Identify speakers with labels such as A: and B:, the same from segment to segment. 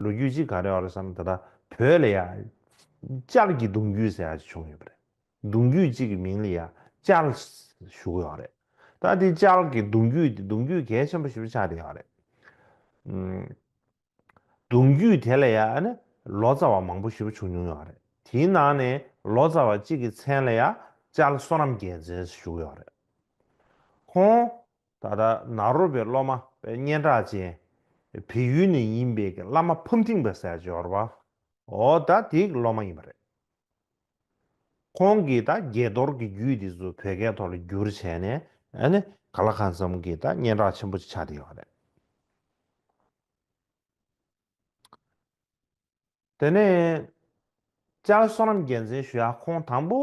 A: ལོ་རྒྱུས་ཅི་ག་རེ་བར་བསམ་ད་ལྟ་བོད་ལ་ཡང། ལྕགས་ཀྱི་གདུང་རྒྱུད་ཟེར་བ་ཅིག་བྱུང་ཡོད་པ་རེད། གདུང་རྒྱུད་ཅིག་གི་མིང་ལ་ཡང་ལྕགས་ཞུ་གི་ཡོད་རེད། ད་དེ་ལྕགས་ཀྱི་གདུང་རྒྱུད་དེ་གདུང་རྒྱུད་གལ་ཆེན་པོ་ཞིག་ཏུ་ཆགས་བསྡད་ཡོད་རེད། གདུང་རྒྱུད་དེ་ལ་ཡང་ནི་ལོ་ཙཱ་བ་མང་པོ་ཞིག་བྱུང་མྱོང་ཡོད་རེད། དེའི་ནང་ནས་ལོ་ཙཱ་བ་གཅིག་གི་མཚན་ལ་ཡང་ལྕགས་བསོད་ནམས་རྒྱལ་མཚན་ཞུ་གི་ཡོད་རེད། ཁོང། ད་ལྟ་ནཱ་རོ་པའི་སློབ་མ་པའི་སྙན་གྲགས་ཅན། བལ་ཡུལ་ནས་ཡིན་པའི་གི་བླ་མ་ཕུབ་འཐིང་པ་སའི་འབྱོར་བ་ཨོ་ད་དེའི་གི་སློབ་མ་ཡིན་པ་རེད། ཁོང་གིས་ད་དགྱེས་རྡོར་གི་རྒྱུད་དེ་ཚོ་བོད་སྐད་ཐོག་ལ་བསྒྱུར་བྱས་ནས་ནི་ག་ལ་གང་འཚམ་གི་ད་སྙན་གྲགས་ཆེན་པོ་ཅིག་ཆགས་བསྡད་ཡོད་པ་རེད། དེ་ནས་ལྕགས་ཟོ་རམ་རྒྱལ་མཚན་ཞུ་ཡ་ཁོང་དང་པོ།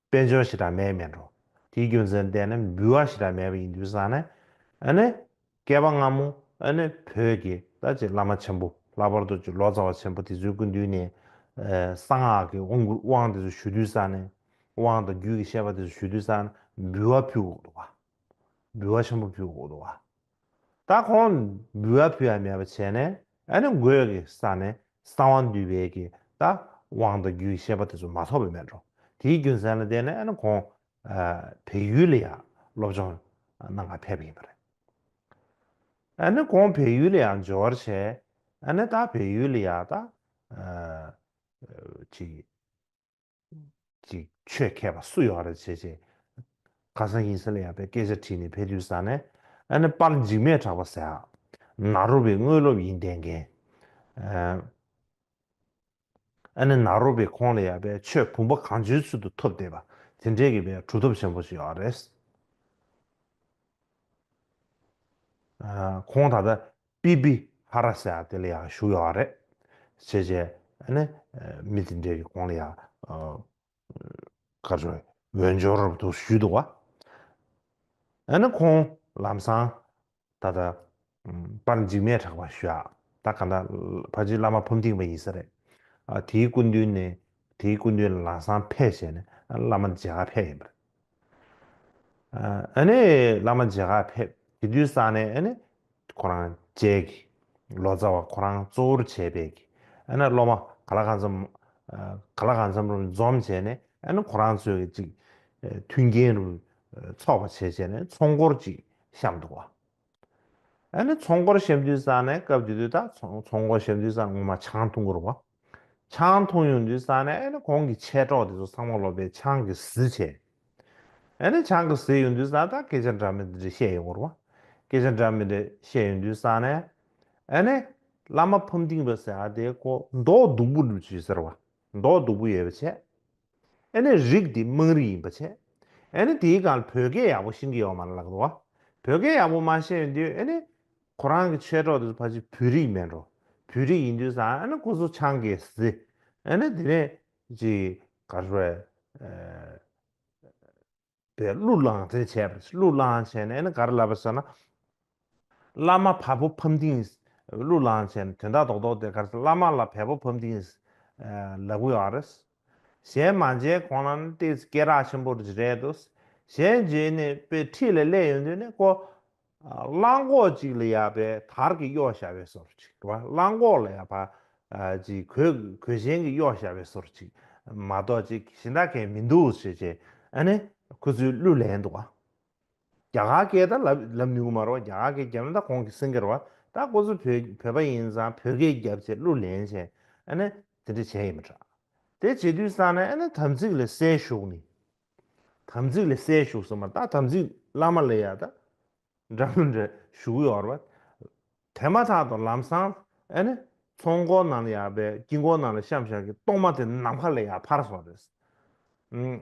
A: དཔལ་འབྱོར་ཞེ་དྲག་མེད་མེད་འགྲོ། དེའི་རྒྱུ་མཚན་བལྟས་ན་འབུལ་བ་ཞེ་དྲག་མེད་པ་ཡིན་དུས་བསམ་ན། ཨ་ནི། བསྐལ་པ་སྔ་མོ་ཨ་ནི་བོད་ཀྱི་ད་ཅིག་བླ་མ་ཆེན་པོ་ལྷག་པར་དུ་ལོ་ཙཱ་བ་ཆེན་པོ་དེ་ཚོའི་སྐུ་མདུན་ནས། གསང་སྔགས་ཀྱི་དབང་བསྐུར་དབང་དེ་ཚོ་ཞུ་དུས་བསམ་ནས། དབང་དང་རྒྱུད་ཀྱི་བཤད་པ་དེ་ཚོ་ཞུ་དུས་བསམ་ན་འབུལ་བ་ཕུལ་འོག་ཏུ་བ། འབུལ་བ་ཆེན་པོ་ཕུལ་འོག་ཏུ་བ། ད་ཁོང་འབུལ་བ་ཕུལ་བ་མེད་པ་བྱས་ནས་ཨ་ནི་དགོས་ཀྱི་ས་ནས་གསང་བ་འདུས་པའི་གི་ད་དབང་དང་རྒྱུའི་ཤེས་པ་དེ་ཚོ་མ་ཐོབ་པའི་མེད་འགྲོ་དེའི་རྒྱུ་མཚན་ལ་བརྟེན་ནས་ཨ་ནི་ཁོང་བལ་ཡུལ་ལ་ཡང་སློབ་སྦྱོང་གནང་བར་ཕེབས་ཡིན་པ་རེད། ཨ་ནི་ཁོང་བལ་ཡུལ་ལ་ཡང་འབྱོར་བར་བྱས་ཨ་ནི་ད་བལ་ཡུལ་ལ་ཡང་ད་ཅིག། ཅིག་ཆོས་མཁས་པ་སུ་ཡོད་རེད་བྱས་བྱས། ཁ་སང་ཡིན་ས་ལ་ཡག་པའི་སྐད་ཆ་བྲིས་ནས་ཕེ་དུས་ཟ་ནས་ཨ་ནི་པར་འཇིགས་མེད་གྲགས་པ་ཟེར། ནཱ་རོ་བའི་དངོས་སློབ་ཡིན་བསྡད་མཁན། ཨ་ནི་ནཱ་རོ་བའི་ཁོང་ལ་ཡག་པའི་ཆོས་བུམ་པ་གང་བྱོའི་ཚུལ་དུ་ཐོབ་བསྡད་པ་དེ་འདྲས་ཀྱི་བའི་གྲུབ་ཐོབ་ཆེན་པོ་ཞིག་ཡོད་རེད། ཁོང་ད་ལྟ་པི་པི་ཧ་ར་སེ་ཨ་དེ་ལ་ཡང་བཞུགས་ཡོད་བ་རེད། བྱས་རྗེས་ནི་མི་དེ་འདྲའི་གོང་ལ་ཡང་ཁ་ཆོ་འོས་འབྱོར་དུ་ཞུས་འདུག་བ། ཨ་ནི་ཁོང་ལམ་སང་ད་ལྟ་པར་འཇིགས་མེད་གྲགས་པ་ཞུ་ཡག་ད་ག་འདྲ་ཕ་རྗེས་བླ་མ་ཕུམ་ཐིང་བ་ཡིན་ས་རེད། དེའི་སྐུ་མདུན་ནས་དེའི་སྐུ་མདུན་ལ་ལམ་སང་ཕེབས་བྱས་ནས་བླ་མ་མཇལ་ཁ་ཕེབས་ཡིན་པ་རེད། ཨ་ནེ་བླ་མ་མཇལ་ཁར་ཕེབས། དེ་དུས་ས་ནས་ཨ་ནེ་ཁོ་རང་མཇལ། ལོ་ཙཱ་བ་ཁོ་རང་གཙོ་བོར་བྱས་པས། ཨ་ནེ་སློབ་མ་ག་ལ་ག་ཚོམ་ག་ལ་ག་ཚོམ་རུ་འཛོམས་བྱས་ནས་ཨ་ནེ་ཁོ་རང་ཚོས་ཅིག་མཐུན་རྐྱེན་རུ་འཚོགས་པ་བྱས་བྱས་ནས་ཚོགས་འཁོར་ཅིག་བཤམས་འདུག་བ། ཨ་ནི་ཚོང་སྒོར་ཞབས་འདྲུད་ས་ནས་སྐབས་དེ་དུས་ད་ཚོང་སྒོར་ཞབས་འདྲུད་ས་ངོ་མ་ཆང་འཐུང་སྒོར་བ། ཆང་འཐུང་ཡོང་དུས་ས་ནས་ཨ་ནི་གོང་གི་མཆེད་གྲོགས་དེ་ཚོ་ཚང་མ་ལོབས་པའི་ཆང་གི་ཟི་བྱས། ཨ་ནི་ཆང་གི་ཟི་ཡོང་དུས་ས་ད་སྐད་ཆ་འདྲ་མི་འདྲ་བཤད་ཡོང་སྒོར་བ། སྐད་ཆ་འདྲ་མི་འདྲ་བཤད་ཡོང་དུས་ས་ནས་ཨ་ནི། བླ་མ་ཕམ་ལྡིང་བ་ཟེར་ཨ་དེ་ཀོ་མདོག་སྡུག་པོ་འདུག་ཅེས་ཟེར་བ། མདོག་སྡུག་པོ་ཡོད་པ་བྱས། ཨེ་ནི་རིགས་འདི་དམངས་རིགས་ཡིན་པ་ཆད། ཨེ་ནི་དེའི་གང་ལ་བོད་སྐད་ཡག་པོ་ཤིང་གི་ཡོག་མ་ལ་ལག་ཏུ་བ། བོད་སྐད་ཡག་པོ་མ་ཤེས་ཡོད་དུས་ཨེ་ནི། ཁོ་རང་གི་མཆེད་གྲོགས་དེ་ཚོ་ཕ་གཞི་བོད་རིགས་མེད་འགྲོ། བོད་རིགས་ཡིན་དུས་སང་ཨེ་ནི་ཁོ་ཚོ་ཆང་གིས་བཟི། ཨེ་ནི་དེ་ནས་ཅིག་ག་རེ། པའི་གླུ་བླངས་ཚེ་བྱས་པ་རེད། གླུ་བླངས་བྱས་ནས་ནི་ག་རེ་ལབ་པ་ཟེར་ན། བླ་མ་བལ་པོ་ཕམ་ལྡིང། གླུ་བླངས་བྱས་ནས་དོན་དག་རྡོག་རྡོག་དེ་ག་རེ་ཟེར་བླ་མ་ལ་བལ་པོ་ཕམ་ལྡིང། ལབ་གི་ཡོད་རེད། བྱས་མ་བྱས་ཁོང་ལ་ནི་དེ་སྐད་གྲགས་ཆེན་པོ་རེད་དོ། བྱས་རྗེས་ནས་དཔེ་ཁྲིད་ལ་སླེབས་ཡོང་དུས་ནི་ཁོ། གླང་གོག་ཅིག་ལ་ཡག་པའི་དར་གྱི་གཡོག་བྱ་བའི་སོར་ཅིག་དྲུ་བ་གླང་གོག་ལ་ཡག་པ་ཅིག་གོས་གོས་གཞན་གྱི་གཡོག་བྱ་བའི་སོར་ཅིག་མ་གཏོགས་ཅིག་གཞི་འདྲ་མཁན་མི་འདུག་ཞེས་བྱས་ཨ་ནི་ཁོ་ཚོའི་གླུ་ལེན་འདུག་བ། རྒྱ་གར་སྐད་དང་ལབ་ལབ་ནུས་གི་མ་རོག་རྒྱ་གར་སྐད་རྒྱབ་ན་ད་གོང་གི་སེང་གེར་བ་ད་ཁོ་ཚོ་བོད་བོད་པ་ཡིན་ཙང་བོད་སྐད་རྒྱབ་ཅེས་གླུ་ལེན་བྱས་ཨ་ནི་དེ་འདྲ་བྱས་ཡི་མི་དྲག་དེ་བྱེད་དུས་སང་ནས་ཨ་ནི་དམ་ཚིག་ལ་སའི་ཞུགས་ནི། དམ་ཚིག་ལས་སད་ཞུགས་སོ་མ་ད་དམ་ཚིག་བླ་མ་ལས་ཡ་ད་འདྲ་མི་འདྲ་ཞུགས་ཡོར་བ། དེ་མ་ཐག་ཏུ་ལམ་སང་ཨེ་ནི་ཚོང་སྒོ་ནང་ལ་ཡ་བས་དཀྱིལ་འཁོར་ནང་ལ་བཤམས་བཞག་གི་གཏོར་མ་དེ་ནམ་མཁའ་ལས་ཡ་ཕར་སོང་རེད།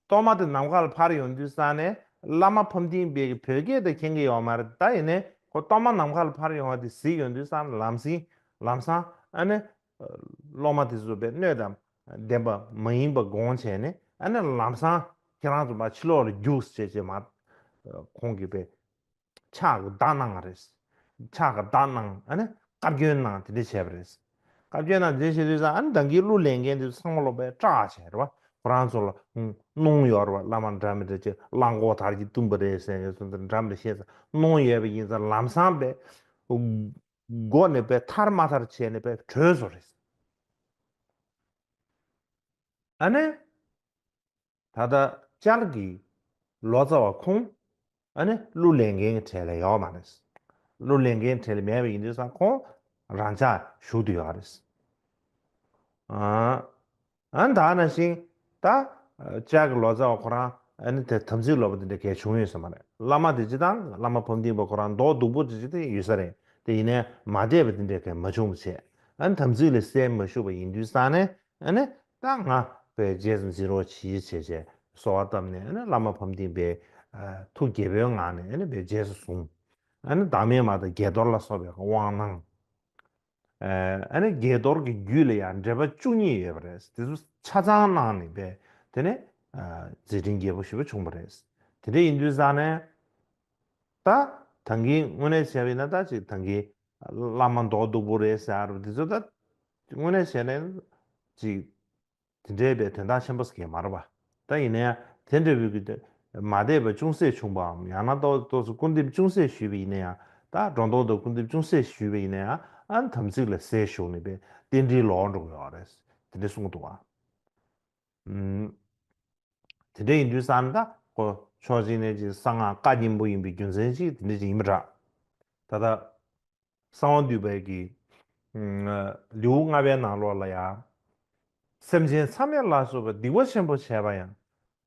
A: གཏོར་མ་དེ་ནམ་མཁའ་ལ་ཕར་ཡོང་དུས་ས་ནས་བླ་མ་ཕམ་ཐིང་སྦས་ཀྱི་བོད་སྐད་དེ་མཁྱེན་གི་ཡོར་མ་རེད་ད་ཡིན་ནའི་ཁོ་གཏོར་མ་ནམ་མཁའ་ལ་ཕར་ཡོང་བ་དེ་གཟིགས་ཡོང་དུས་ས་ན་ལམ་སིང་ལམ་སང་ཨེ་ནི་སློབ་མ་དེ་ཚོས་བའི་སྣོད་དང་ལྡན་པ་མ་ཡིན་པ་དགོངས་བྱས་ནས་ཨ་ནི་ལམ་སང་ཁྱེད་རང་ཚོ་མ་ཕྱི་ལོག་ལ་རྒྱུགས་ཟེར་ཅེས་མ་ཁོང་གིས་བའི་ཕྱག་གི་བརྡ་གནང་བ་རེད། ཕྱག་གི་བརྡ་གནང་ཨ་ནི་བཀའ་བཀྱོན་གནང་དེ་འདྲས་བྱས་པ་རེད། བཀའ་བཀྱོན་གནང་དེ་འདྲས་བྱས་དུས་སང་ཨ་ནི་བདག་གིས་གླུ་ལེན་མཁན་དེ་ཚོ་ཚང་མ་སློབ་པའི་སྐྲག་བྱས་རེད་བ་ཁོ་རང་ཚོ་ལ་གནོང་ཡོད་རེད་བ་བླ་མ་འདྲ་མི་འདྲ་ཅིག་གླང་གོག་དར་གྱིས་བཏུམས་པ་རེད་ཟེར་ནས་ཚོ་འདྲ་མི་འདྲ་བཤད་ས་གནོང་ཡོད་པ་ཡིན་ས་ལམ་སང་བའི། སྒོ་ནས་བས་ཐར་མ་ཐར་བྱས་ནས་བས་གྲོལ་བཟོ་རེད། ཨ་ནེ། ད་ལྟ་ཅར་གི་ལོ་ཙཱ་བ་ཁོང་ཨ་ནེ་གླུ་ལེན་མཁན་གྱི་གྲས་ལ་ཡོད་མ་རེད། གླུ་ལེན་མཁན་གྲས་ལ་མེད་པ་ཡིན་དུས་སང་ཁོང་རང་ཅག་ཞུགས་དུ་ཡོད་རེད། ཨ་ད་ན་ཞིང། ད། ལྕགས་ཀྱི་ལོ་ཙཱ་བ་ཁོ་རང། ཨ་ནི་དེ་དམ་ཚིག་ལོ་པ་དེ་འདྲ་གལ་ཆུང་ཡོད་ས་མ་རེད། བླ་མ་དེ་སྤྱི་དང་བླ་མ་ཕམ་ཏིང་པ་ཁོ་རང་མདོག་སྡུག་པོ་དེ་ཅིག་དེ་ཡོད་ས་རེད་དེ་ཡིན་ནའི་མ་བསྡད་པ་དེ་འདྲའི་གལ་མ་ཆུང་བ་བྱས། ཨ་ནི་དམ་ཚིག་ལས་གསལ་མ་ཞུགས་པ་ཡིན་དུས་སང་ནས་ཨ་ནི། ད་ང། བས་རྗེས་སུ་འཛིན་རོགས་བྱེད་ཡིད་ཆེས་བྱས། སོ་བ་བཏབ་ནས་ཨ་ནི་བླ་མ་ཕམ་ཏིང་པའི། ཐུགས་དགྱེས་པོའི་ངང་ནས་ཨ་ནི་བས་རྗེས་སུ་བཟུང། ཨ་ནི་བདག་མེད་མ་དང་དགྱེས་རྡོར་ལ་སོགས་པའི་དབང་གནང། ཨ་ནི་དགྱེས་རྡོར་གྱི་རྒྱུད་ལ་ཡང་འགྲེལ་པ་བཅུ་གཉིས་ཡོད་པ་རེད། དེ་ཚོ་ཆ་ཚང་གནང་ནས་བས་དེ་ནས་མཛད་འཕྲིན་རྒྱས་པོ་ཞུས་པ་བྱུང་བ་རེད། དེ་འདྲ་ཡིན་དུས་སང་ནས་ད་དང་གིས་དངོས་གནས་བྱས་པ་ཡིན་ན་ད་ཅིག་དང་གིས་བླ་མ་མདོག་སྡུག་པོ་རེད་ཟེར་བ་རེད་དེ་ཚོ་ད་དངོས་གནས་བྱས་ནས་ཅིག་དེ་འདྲེས་པའི་དོན་དག་ཆེན་པོ་གས་མར་བ། ད་ཡིན་ན་ཡང་དེ་འདྲེས་བུ་གུ་དོན་མ་འདེས་པ་ཅུང་ཟད་བྱུང་བའམ་ཡང་ན་ཏོག་ཏོག་སུ་སྐུར་འདེབས་ཅུང་ཟད་ཞུས་པ་ཡིན་ན་ཡང་ད་སྒྲོ་འདོགས་དང་སྐུར་འདེབས་ཅུང་ཟད་ཞུས་པ་ཡིན་ན་ཡང་ཨན་དམ་ཚིག་ལ་ཟས་ཞོག་ནི་པའི་རྟེན་འབྲེལ་ལོག་འགྲོ་དགོས་བ་རེད། དེ་འདྲེ་གསུང་གི་འདུག་བའམ། དེ་འདྲེ་ཡིན་དུས་སམ་ད་ཀོ་ཕྱོགས་གཅིག་ནས་གཅིག་གསང་སྔགས་བཀའ་གཉན་པོ་ཡིན་པའི་རྒྱུ་མཚན་གཅིག་དེ་འདྲེ་ཅིག་ཡིན་པ་འདྲ། ད་ད། གསང་བ་འདུས་པའི་གི། ལེའུ་ལྔ་པའི་ནང་ལོགས་ལ་ཡང། སེམས་ཅན་མཚམས་མེད་ལ་སོགས་པའི་སྡིག་པ་ཆེན་པོ་བྱས་པ་ཡང།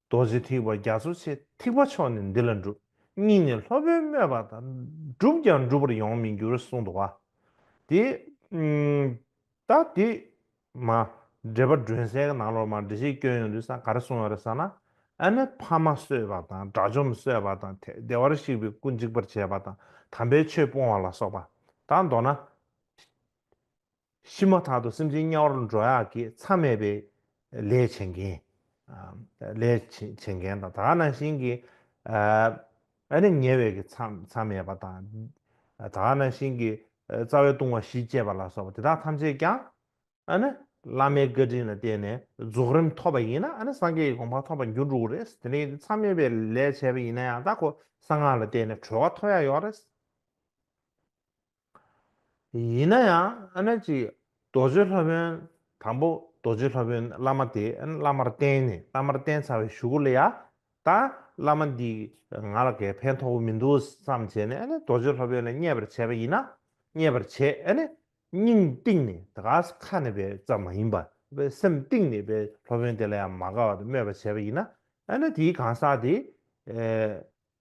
A: རྡོ་རྗེ་ཐིགས་པ་རྒྱ་མཚོ་ཆེ་ཐིགས་པ་མཆོག་ནི་འདི་ལ་འགྲུབ་སྙིང་ནས་ལྷོད་པོའི་སྨོད་པ་དང་བསྒྲུབས་ཀྱང་འགྲུབ་པར་ཡོང་མི་འགྱུར་གསུངས་འདུག་བ། དེ། ད་དེ། མ། འདྲེ་པ་སྒྲོན་སའི་ནང་ལོགས་མ་འདྲེ་ཞིག་བསྐྱོན་ཡོང་དུས་ས་ག་རེ་སོང་ཡོང་རེད་ས་ན། ཨ་ནེ་ཕ་མ་གསོད་པ་དང་དགྲ་བཅོམ་གསོད་པ་དང་ཐེག་བདེ་བར་གཤེགས་པའི་སྐུ་འཇིག་པར་བྱེད་པ་དང་དམ་པའི་ཆོས་སྤོང་བ་ལ་སོགས་པ། དང་མདོར་ན། ཤི་མ་ཐག་ཏུ་སེམས་ཅན་དམྱལ་བར་འགྲོ་ཡག་གི་ཚ་མེད་པའི། ལས་བྱེད་མཁན། ལས་བྱེད་མཁན་དང་དག་སྣང་བཞིན་གྱི་ཨ་ནེ་ཉེ་བའི་གི་མཚམས་མེད་པ་དང། དག་སྣང་བཞིན་གྱི་རྩ་བའི་ལྟུང་བ་བཞི་སྤྱད་པ་ལ་སོགས་པ་དེ་དག་ཐམས་ཅད་ཀྱང་ཨ་ནི་བླ་མའི་བཀའ་དྲིན་ལ་བརྟེན་ནས་རྫོགས་རིམ་ཐོབ་པ་ཡིན་ན་ཨ་ནི་སངས་རྒྱས་ཀྱི་དགོངས་པ་ཐོབ་པར་འགྱུར་འགྲོ་གི་རེད། དེ་ནས་མཚམས་མེད་པའི་ལས་བྱས་པ་ཡིན་ན་ཡང་དག་གོ་ས་སྔགས་ལ་བརྟེན་ནས་གྲོལ་བ་ཐོབ་ཡ་ཡོད་རེད། ཡིན་ན་ཡང་ཨ་ནེ་ཅིག་རྡོ་རྗེ་ལྷ་བོན། དང་པོ་རྡོ་རྗེ་ལྷ་བོན་བླ་མ་དེས་ཨ་ནེ་བླ་མར་བསྟེན་ནས་བླ་མར་བསྟེན་ཚར་བའི་ཞུ་གུ་ལ་ཡ། ད་བླ་མ་འདིས་ང་ལ་གས་ཕན་ཐོགས་པོ་མི་འདུག་བསམ་བྱས་ནས་ཨ་ནེ་རྡོ་རྗེ་ལྷ་བོན་ལ་བརྙས་པར་བྱས་པ་ཡིན་ན། བརྙས་པར་བྱས་ཨ་ནེ་སྙིང་གཏིང་ནས་དགའ་ས་ཁ་ནས་པའི་ཙམ་མ་ཡིན་པ་བའི་སེམས་གཏིང་ནས་པའི་ལྷ་བོན་དེ་ལ་ཡང་མ་དགའ་བར་སྨོད་པ་བྱས་པ་ཡིན་ན་ཨ་ནེ་དེའི་གང་ཟག་དེ།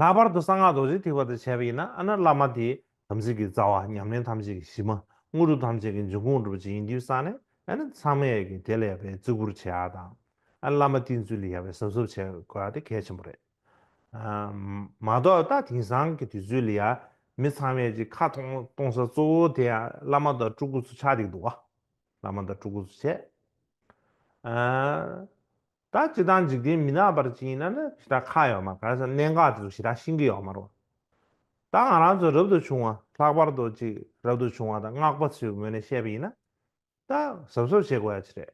A: ལྷག་པར་དུ་གསང་སྔགས་རྡོ་རྗེ་ཐིག་པ་དང་བྱ་བ་ཡིན་ན་ཨ་ནྀ་བླ་མ་དེས་དམ་ཚིག་གི་རྩ་བ་ཉམས་ལེན་ཐམས་ཅད་ཀྱི་གཞི་མ་དངོས་གྲུབ་ཐམས་ཅད་ཀྱི་འབྱུང་ཁུངས་སྒྲུབ་བྱེད་ཡིན་དུས་གསང་ནས་ཨ་ནྀ་ཚང་མས་ཀྱི་དེ་ལ་ཡལ་བའི་བརྩི་བཀུར་བྱེད་ཨ་དང་ཨ་ནྀ་བླ་མ་བསྟེན་ཚུལ་ལ་ཡལ་བའི་ཟབ་ཟོབ་བྱེད་དགོས་ཨ་དེ་གལ་ཆེན་པོ་རེད། མ་གཏོགས་ད་དེང་སང་གི་དུས་ཚོད་ལ་ཡ་མི་ཚང་མས་ཀྱི་ཁ་གཏོང་གཏོང་ས་གཙོ་བོ་དེ་ཨ་བླ་མ་དང་སྤྲུལ་སྐུ་ཚོ་ཆགས་འདུག་འདུག་ཨ། བླ་མ་དང་ཕྲུ་གུ་སུ་བྱེད། ད་ཇི་ལྟར་འཇིག་རྟེན་མི་ནག་པར་ཅིག་ཡིན་ན་ནི་ཞེ་དྲག་ཁ་ཡོད་མ་ག་ས་གནད་འགག་དེ་ཚོ་ཞེ་དྲག་ཤིང་གི་ཡོད་མ་རོ། ད་ང་རང་ཚོ་རབ་ཏུ་བྱུང་བ་ལྷག་པར་དུ་ཅིག་རབ་ཏུ་བྱུང་བ་དང་སྔགས་པ་ཚོའི་ངོས་ནས་བཤད་པ་ཡིན་ན། ད་གཟབ་གཟབ་བྱེད་དགོས་ཡ་ཆེ་རེད།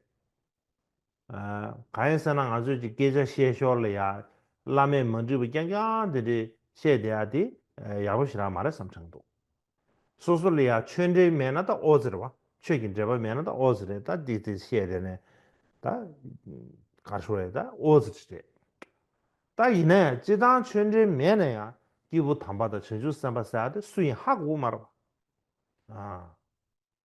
A: གང་ཡིན་ཟེར་ན་ང་ཚོས་ཀྱི་སྐད་ཆ་བཤད་ཞོར་ལ་ཡང་བླ་མས་མ་འདྲིས་པ་རྐྱང་རྐྱང་དེ་འདྲས་བཤད་བསྡད་ཡ་དེ་ཡག་པོ་ཞིག་རང་མ་རེད་བསམ་དྲགས་འདུག་སོ་སོ་ལ་ཡང་ཆོས་འབྲེལ་མེད་ན་ད་ཨོ་ཟེར་བ་ཆོས་ཀྱི་འབྲེལ་པ་མེད་ན་ད་ཨོ་ཟེར་རེད་ད་འདི་དེ་བཤད་བསྡད་ནས་ད་གར་ཤོར་ཡ་ད་ཨོ་ཟེར་གྱི་རེད་ད་ཡིན་ན་ཡང་སྤྱི་བཏང་ཆོས་འབྲེལ་མེད་ན་ཡང་སྐྱེས་བུ་དམ་པ་དང་བྱང་ཆུབ་སེམས་དཔའ་ཟེར་ཡ་དེ་སུ་ཡིན་ཧ་གོ་མ་རེད་བ།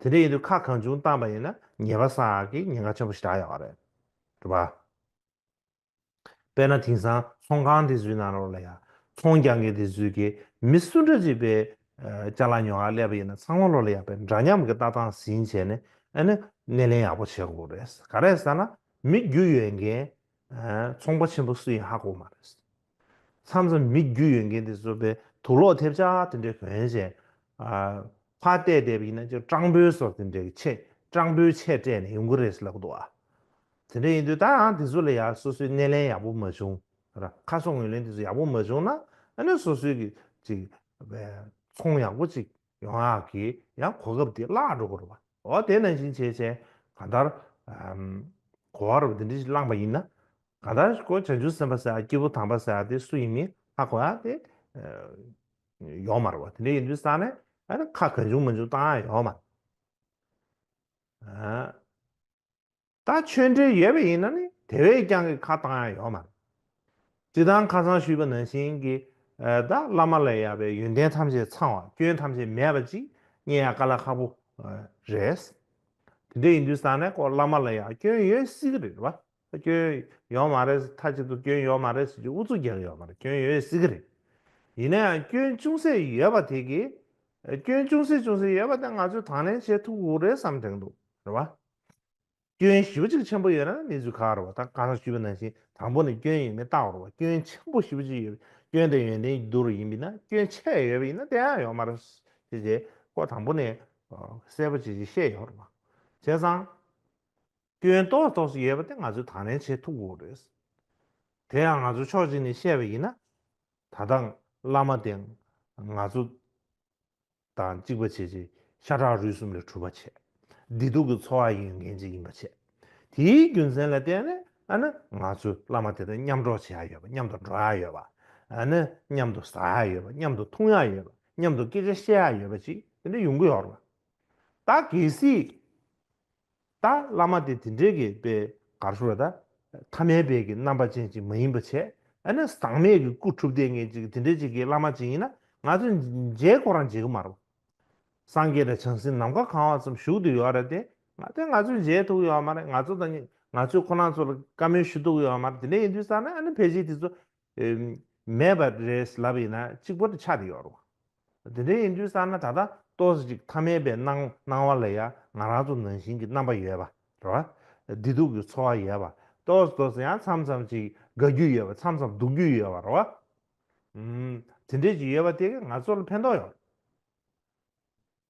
A: དེ་འདྲ་ཡིན་དུས་ཁ་གང་བྱུང་བཏང་པ་ཡིན་ན་ཉེས་པ་སངས་ཀྱི་ཉེན་ཁ་ཆེན་པོ་ཞིག་བསྒྲགས་ཡོང་བ་རེད། དྲུག་པ། དཔེར་ན་དེང་སང་ཚོང་ཁང་དེ་ཚོའི་ནང་རོགས་ལ་ཡང་ཚོང་རྒྱག་མཁན་དེ་ཚོའི་གི་མི་སུ་འདྲ་ཅིག་པའི་ལྕགས་ལ་ཉོ་ཁར་སླེབས་པ་ཡིན་ན་ཚང་མ་རོགས་ལ་ཡག་པའི་འདྲ་མཉམ་གྱི་ལྟ་སྟངས་ཟིན་བྱས་ནས་ཨ་ནི་སྣེ་ལེན་ཡག་པོ་བྱེད་དགོས་རེད། ག་རེ་ཟེར་ན་མི་རྒྱུ་ཡོད་མཁན་ཚོང་པ་ཆེན་པོ་སུ་ཡིན་ཧ་གོ་མ་རེད། མཚམས་སུ་མིག་རྒྱུ་ཡོད་མཁན་དེ་ཚོ་བས་དུག་ལོག་ཐེབས་ཆག་དེ་འདྲའི་གོན་བྱས། ཕ་བལྟས་བལྟས་པ་ཡིན་ན་ཅོ་སྤྲང་པོའི་སོགས་དེ་འདྲའི་ཆེ་སྤྲང་པོའི་ཆས་སྤྲས་ནས་ཡོང་གི་རེད་ཟེར་ལབ་འདུག་ཨ། དེ་འདྲ་ཡིན་དུས་ད་ཡང་དེ་ཚོ་ལ་ཡ་སོ་སོའི་སྣེ་ལེན་ཡག་པོ་མ་བྱུང་ར་ཁ་སོ་ངོས་ལེན་དེ་ཚོ་ཡག་པོ་མ་བྱུང་ན་ཨ་ནི་སོ་སོའི་གི་ཅིག་བས་ཚོང་ཡག་པོ་ཅིག་ཡོང་ཨ་གི་ཡང་གོ་སྐབས་དེ་བརླག་འགྲོ་གི་རེད་བ། འོ་དེ་ན་བཞིན་བྱས་བྱས་ག་འདར། གོ་བ་རུ་བ་དེ་འདྲི་ཞིག་བླངས་པ་ཡིན་ན། ག་འདར་ཀོ་བྱང་ཆུབ་སེམས་དཔའ་ཟེར་ཨ་སྐྱེས་བུ་དམ་པ་ཟེར་ཨ་དེ་སུ་ཡིན་མིན་ཨ་གོ་ཨ་དེ། ཡོང་མ་རུ་བ་དེ་འདྲི་ཡིན་དུས་ས་ནས་ཨ་ནི་ཁ་ག་འབྱུང་མ་འབྱུང་བཏང་ཨ་ཡོང་མ། ད་ཆོས་འབྲེལ་ཡོད་པ་ཡིན་ན་ནི་དེ་བས་ཀྱང་གི་ཁ་བཏང་ཡ་ཡོད་མ་རེད། ཅི་དང་ཁ་སང་ཞུས་པ་ནང་བཞིན་གི་ད་བླ་མ་ལས་ཡག་པའི་ཡོན་ཏན་ཐམས་ཅད་ཚང་བ་སྐྱོན་ཐམས་ཅད་མེད་པ་ཅིག་རྙེད་ཡ་ག་ལ་ཁག་པོ་རེད། དེ་འདྲ་ཡིན་དུས་ས་གནས་སྐོར་བླ་མ་ལ་ཡང་སྐྱོན་ཡོད་སྲིད་གི་རེད་བ། སྐྱོན་ཡོད་མ་རེད་མཐའ་གཅིག་ཏུ་སྐྱོན་ཡོད་མ་རེད་ཟེར་རྒྱུ་ཨུ་ཚུགས་རྒྱག་གི་ཡོད་མ་རེད་སྐྱོན་ཡོད་སྲིད་གི་རེད། ཡིན་ན་ཡང་སྐྱོན་ཅུང་ཟད་ཡོད་པ་དེ་གི་སྐྱོན་ཅུང་ཟད་ཅུང་ཟད་ཡོད་པ་དེ་ང་ཚོས་དང་ལེན་བྱེད་ཐུབ་དགོས་རེད་བསམ་དྲན་འདུག་རེད་བ། སྐྱོན་བཞི་བ་གཅིག་ཆེན་པོ་ཡོད་ན་གནས་ཚུལ་ཁག་རུ་བ་དང་གང་ཟག་བཅུ་བའི་ནང་བཞིན་དང་པོ་ནས་སྐྱོན་ཡོད་མེད་བརྟག་རུ་བ་སྐྱོན་ཆེན་པོ་བཞི་བ་གཅིག་ཡོད་པའི་སྐྱོན་དེ་ཡོན་ཏན་གྱི་རྡུལ་རུ་ཡིན་པས་ན་སྐྱོན་ཆེ་ཡོད་པ་ཡིན་ན་དེ་ཡང་ཡོད་མ་རུ་བྱེད་བྱེད་ཁོ་དང་པོ་ནས་གསལ་པོ་བྱེད་བྱེད་ཤེས་ཡོད་རུ་བ་བྱས་ཙང། སྐྱོན་རྟོགས་རྟོགས་སུ་ཡོད་པ་དེ་ང་ཚོས་དང་ལེན་བྱེད་ཐུབ་དགོས་རེད། དེ་ཡང་ང་ཚོ་ཕྱོགས་གཅིག་ནས་བཤད་པ་ཡིན་ན། ད་ལྟ་བླ་མ་དེ་ང་ཚོ་དང་གཅིག་པ་བྱེད་ཅིང་ཤ་ཁྲག་རུས་གསུམ་ལས་གྲུབ་པ་བྱེད། བདེ་སྡུག་གི་འཚོ་བ་ཡིན་ཡང་འགན་གཅིག་ཡིན་པ་བྱེད། དེའི་རྒྱུ་མཚན་ལ་བརྟེན་ནས་ནི་ང་ཚོས་བླ་མ་དེ་དང་མཉམ་འགྲོགས་བྱེད་ཡ་ཡོད་པ་མཉམ་དུ་འགྲོ་ཡ་ཡོད་པ། ནི་མཉམ་དུ་ཟ་ཡ་ཡོད་པ་མཉམ་དུ་འཐུང་ཡ་ཡོད་པ་མཉམ་དུ་སྐད་ཆ་བཤད་ཡ་ཡོད་པ་ཅིག་དེ་འདྲ་ཡོང་གི་ཡོད་རེད། ད་གལ་སྲིད། ད་བླ་མ་དེ་དེ་འདྲའི་གི་པའི་གར་སོ་ར་ད། ཐ་མའི་བས་གི་རྣམ་པ་ཅན་ཅིག་མ་ཡིན་པ་བྱས་ཨ་ན་ཟངས་མས་གི་སྐུ་ཁྲུབ་ལྡན་ངན་ཅིག་དེ་འདྲའི་ཅིག་གི་བླ་མ་ཅིག་ཡིན་ན་ང་ཚོ་མཇལ་གོ་རང་བྱེད་གི་མ་རོ། སངས་རྒྱས་དང་བྱང་སེམས་ནམ་མཁའ་གང་བ་ཙམ་བཞུགས་དུ་ཡོད་ར་དེ་ང་དེ་ང་ཚོ་མཇལ་ཐུག་ཡོད་མ་རེད་ང་ཚོ་དང་ང་ཚོས་ཁོ་ན་ཚོ་ལ་བཀའ་མོལ་ཞུ་ཐུག་ཡོད་མ་རེད་དེ་འདྲ་ཡིན་དུས་ཙང་ན་ཨ་ན་ཕལ་ཆེར་དེ་ཚོ་མེད་པ་རེད་ལབ་ཡིན་ན་གཅིག་པོ་དེ་ཆ་དེ་ཡོད་རུང། དེ་འདྲ་ཡིན་དུས་བསམ་ན་ད་ལྟ་ཏོག་ཅིག་མཐའ་མེད་པའི་སྣང་སྣང་བ་ལ་ཡང་ང་རང་ཚོ་ནང་བཞིན་གྱི་རྣམ་པ་ཡོད་པ་རེད། བདེ་སྡུག་གི་འཚོ་བ་ཡོད་པ་ཏོག་ཏོག་ཡང་མཚམས་མཚམས་ཅིག་དགའ་རྒྱུ་ཡོད་པ་མཚམས་མཚམས་སྡུག་རྒྱུ་ཡོད་པ་རེད། དེ་འདྲས་ཅིག་ཡོད་པ་དེ་གས་ང་ཚོ་ལ་ཕན་ཐོག་ཡོད་རེད།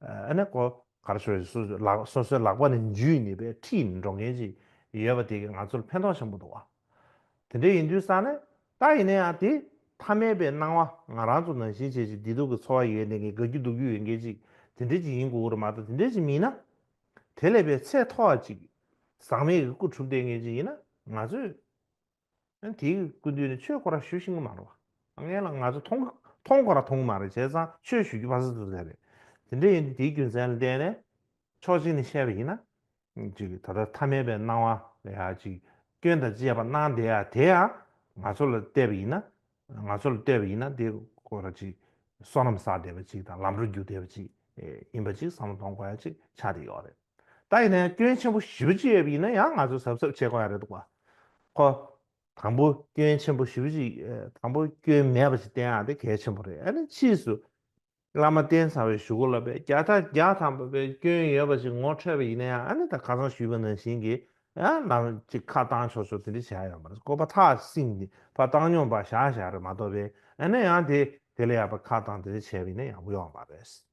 A: ཨ་ནེ་ཀོ་གར་ཤོ་ཡིས་སོ་སོའི་ལག་པ་ནས་འཇུས་ནས་པའི་ཁྲི་ཡིས་འགྲོ་མཁན་ཞིག་ཡོད་པ་དེ་གིས་ང་ཚོར་ཕན་ཐོགས་ཆེན་པོ་འདུག་ཨ། དེ་འདྲ་ཡིན་དུས་ས་ནི་ད་ཡིན་ན་ཡང་དེ་ཐ་མལ་པའི་སྣང་བ་ང་རང་ཚོ་ནང་བཞིན་བྱས་བྱས་བདེ་སྡུག་གི་འཚོ་བ་ཡོད་ནས་དགའ་རྒྱུ་སྡུག་རྒྱུ་ཡོད་མཁན་ཞིག་དེ་འདྲས་ཅིག་ཡིན་དགོས་ཀྱི་རེད་མ་གཏོགས་དེ་འདྲས་ཅིག་མིན་ན། དེ་ལས་པའི་ཚད་མཐོ་བ་ཅིག་ཟག་མེད་ཀྱི་སྐུ་གྲུབ་བསྟན་མཁན་ཞིག་ཡིན་ན་ང་ཚོས། ཨན་དེ་ཀུན་དུས་ནས་ཆོས་ཁོ་ར་ཞུ་བཞིན་གི་མ་རེད་བ། ངས་ལ་ང་ཚོ་མཐོང་མཐོང་ཁོ་ར་མཐོང་གི་མ་རེད་བྱས་ཙང་ཆོས་ཞུ་རྒྱུ་ཕ་ཟ་ཐུ་ཐལ་རེད། དེ་འདྲ་ཡིན་དུས་དེའི་རྒྱུ་མཚན་ལ་བལྟས་ནས་ཕྱོགས་གཅིག་ནས་བཤད་པ་ཡིན་ན། ཅིག་ད་ལྟ་ཐ་མལ་པའི་སྣང་བ་ལ་ཡང་ཅིག་སྐྱོན་དང་བཅས་པ་སྣང་བསྡད་ཡ་དེ་ཡང་ང་ཚོ་ལ་བལྟས་པ་ཡིན་ན། ང་ཚོ་ལ་ལྟོས་པ་ཡིན་ན་དེ་ཁོ་ར་ཅིག་བསོད་ནམས་བསགས་བསྡད་པ་ཅིག་དང་ལམ་འགྲོ་རྒྱུག་བསྡད་པ་ཅིག་ཡིན་པ་ཅིག་བསམ་བློ་གཏོང་དགོས་ཡ་ཅིག་ཆགས་བསྡད་ཡོད་རེད། ད་ཡིན་ན་ཡང་སྐྱོན་ཆེན་པོ་བཞི་བཅུ་ཡོད་པ་ཡིན་ན་ཡང་ང་ཚོས་གཟབ་གཟབ་བྱེད་དགོས་ཡ་རེད་འདུག་བ། ཁོ། དང་པོ་སྐྱོན་ཆེན་པོ་བཞི་བཅུ་དང་པོ་སྐྱོན་མེད་པ་ཞིག་བསྟན་ཡ་དེ་གལ་ཆེན་པོ་རེད་ཨ་ནི་ཕྱིས་སུ། བླ་མ་བསྟན་ཚང་བའི་ཞུ་གོ་ལ་པས་བརྒྱ་ཕྲག་བརྒྱ་ཐམ་པ་པའི་སྐྱོན་ཡོད་པ་ཞིག་ངོ་འཕྲོད་པ་ཡིན་ན་ཡང་ཨ་ནི་ད་ཁ་སང་ཞུས་པ་ནང་བཞིན་གྱི་ཨ་ནམ་ཅིག་ཁ་བཏང་ཆོག་ཆོག་དེ་འདྲི་བྱས་ཡོང་བ་རེད་ཀོ་པ་ཐག་བསྲིངས་ཏེ་ཕ་བཏང་སྙོམས་པ་བཞག་བཞག་རེད་མ་གཏོགས་པས་ཨ་ནི་ཡང་དེ་དེ་ལས་ཡག་པ་ཁ་བཏང་དེ་འདྲི་བྱས་པ་ཡིན་ན་ཡག་པོ་ཡོང་བ་རེད།